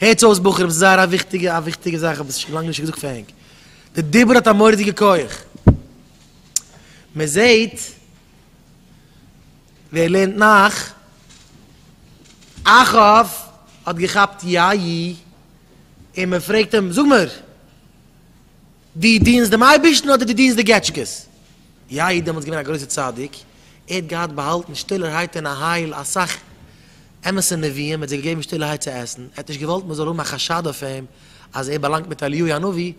הערטס אויס בחורים ס'איז זייער א וויכטיגע א וויכטיגע זאך כ'האב עס שוין לאנג נישט געזאגט פאר ענק, די דיבור האט א מורא'דיגע כח, מען זעהט ווער לערנט נאך, אחאב האט געכאפט יא י און מען פרעגט אים זאג מיר. דו דינסט דעם אייבערשטן אדער דו דינסט די געטשקעס? יאיר איז דעמאלטס געווען א גרויסער צדיק, ער האט געהאט באהאלטן שטילערהייט אין אהל אסאך אמת'ע נביאים, ער האט זיי געגעבן שטילערהייט צו עסן, ער האט נישט געוואלט מען זאל האבן א חשד אויף אים אז ער באלאנגט מיט אליהו הנביא,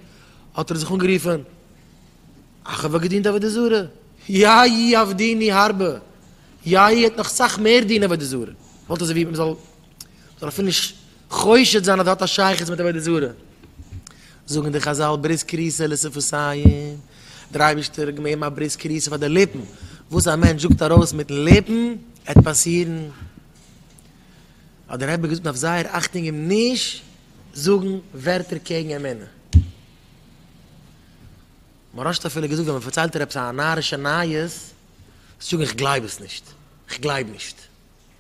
האט ער זיך אנגערופן, איך האב געדינט עבודה זרה, יאי עבדיני הרבה, יאיר האט נאך סאך מער דין עבודה זרה, וואלט אזוי ווי מען זאל אפילו נישט חושד זיין אז דאס האט א שייכות מיט עבודה זרה. זאגן די חזל ברית כריסה לשפתיים, דער אייבערשטער האט געמעבן א ברית כריסה פאר די ליפן, וואס א מענטש זאגט ארויס מיטן ליפן עט פאסירן. האט דער רבי געזאגט מען דארף זייער אכטונג אים נישט זאגן ווערטער קעגן אמונה. מוהרא ש האט אפילו געזאגט ווען מען פארציילט דיר עפעס א נארישע נייעס, זאג איך גלייב עס נישט, איך גלייב נישט.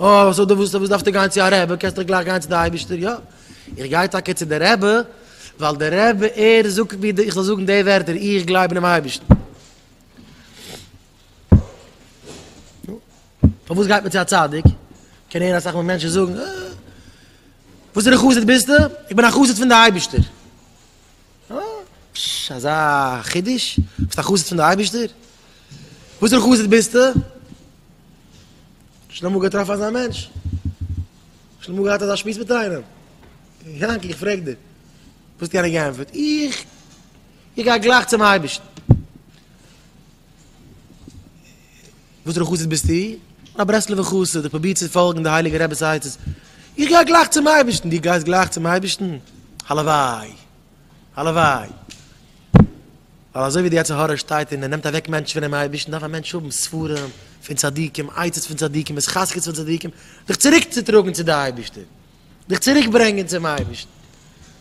אה, סאו דו ווילסט, וואס דארפסטו גיין צו א רבי, קענסט דאך גלייך גיין צו די אייבערשטער, יא, איך גיי טאקע צו די רבי, ווייל די רבי ער זאגט ווי איך זאל זאגן די ווערטער, איך גלייב אינעם אייבערשטן. פארוואס גייט מען צו א צדיק? קען הערן אסאך מאל מענטשן זאגן, אה, וואסערע חסיד ביסטו? איך בין א חסיד פון די אייבערשטער. פשש, אזא חידוש? ביסט א חסיד פון די אייבישטער? וואסערע חסיד ביסטו? שוין אמאל געטראפן אזא מענטש? שוין אמאל געהאט אזא שמועס מיט איינעם? יענקי, איך פרעג דיר. וואס האט יענער געענטפערט? איך? איך גיי גלייך צום אייבישטן. וואסערע חסיד ביסטו? איך בין א ברסלב'ע חסיד, איך פרוביר צו פאלגן די הייליגע רב'ס עצות, איך גיי גלייך צום אייבערשטן, דו גייסט גלייך צום אייבערשטן? הלוואי! הלוואי! ווייל אזוי ווי די יצר הרע שטייט און ער נעמט אוועק מענטשן פונעם אייבערשטן, דארף א מענטש האבן ספרים פון צדיקים, עצות פון צדיקים, התחזקות פון צדיקים, זיך צוריק צו טראגן צו די אייבערשטער, זיך צוריק ברענגען צום אייבערשטן,